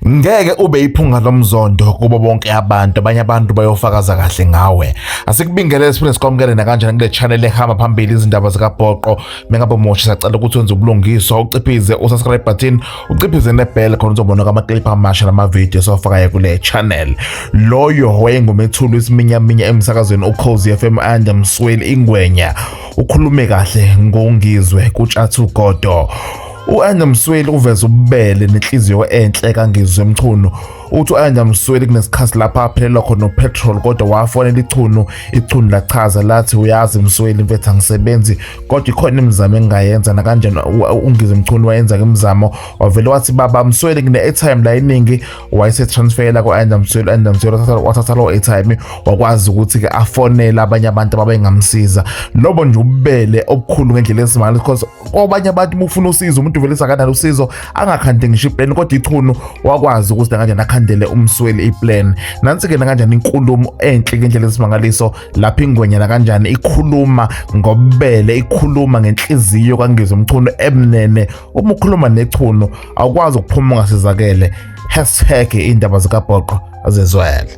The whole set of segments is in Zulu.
Ngeke ube iphunga lomzondo kubo bonke abantu, abanye abantu bayofakaza kahle ngawe. Asikubingelele siphinde sikwamukele nakanjani kule channel ehamba phambili izindaba zikabhoqo. Mengabe umusha sacela ukuthi wenze ubulungiswa, uciphize usubscribe button, uciphize nebell khona uzobona kwamaclip amasha namavidiyo sofakayo kule channel. Loyo wayengumethuli isiminyaminya emsakazweni uCozy FM Anda Msweli Ingwenya. Ukhulume kahle ngongizwe kuTshathu Godo. U-Anja Msweli uveze ububele nenhliziyo enhle kaNgizwe Mchunu. Uthi u-Anja Msweli kunesikhathi lapha aphelelwa khona upetrol kodwa wafonela ichunu, ichunu lachaza lathi uyazi Msweli mfethu angisebenzi kodwa ikhona imizamo engingayenza nakanjani uNgizwe Mchunu wayenza-ke imizamo wavele wathi baba Msweli ngine-airtime la eningi wayesetransfela ku-Anja Msweli, u-Anja Msweli wathatha lowo airtime wakwazi ukuthi-ke afonele abanye abantu ababengamsiza. Lobo nje ububele obukhulu ngendlela esimangaliso because kwabanye abantu uma ufuna usizo umuntu uvele sakanalo usizo angakhande ngisho iplan kodwa ichunu wakwazi ukuthi kanjani akhandele umsweli iplan nansi-ke nakanjani inkulumo enhle ngendlela esimangaliso lapho ingwenya nakanjani ikhuluma ngobele ikhuluma ngenhliziyo kangizwe umchunu emnene uma ukhuluma nechunu awukwazi ukuphuma ungasizakele hashtag iy'ndaba zikabhoqo azizwele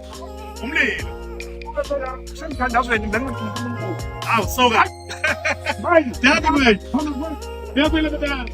umlilo semthandazweni benginkulunkulu awu soka manje yakumele yakumele baba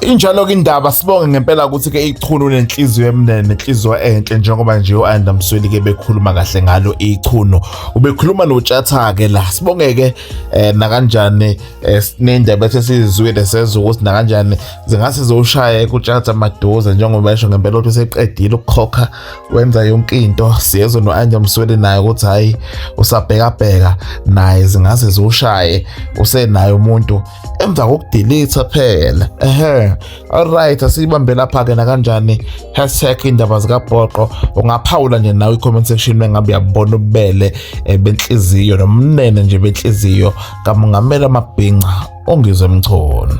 Injalo ke indaba sibonge ngempela ukuthi ke ichunu nenhliziyo emnene nenhliziyo enhle njengoba nje uAnda Msweli ke bekhuluma kahle ngalo ichunu ubekhuluma notshatha ke la sibonge ke eh, nakanjani esinendaba esesizizwile nesenza ukuthi nakanjani zingase ziwushaya ekutshatha maduze njengoba esho ngempela ukuthi useqedile ukukhokha wenza yonke into siyezwe no-anja msweli naye ukuthi hhayi usabhekabheka naye zingase ziwushaye usenaye umuntu emva kokudilitha phela ehe alright asiyibambe lapha-ke nakanjani hashtag indaba zikabhoqo ungaphawula nje nawe i-comment section mengabe uyabona ububele eh, benhliziyo nomnene nje benhliziyo kaMungameli amabhinca ongize mchoni.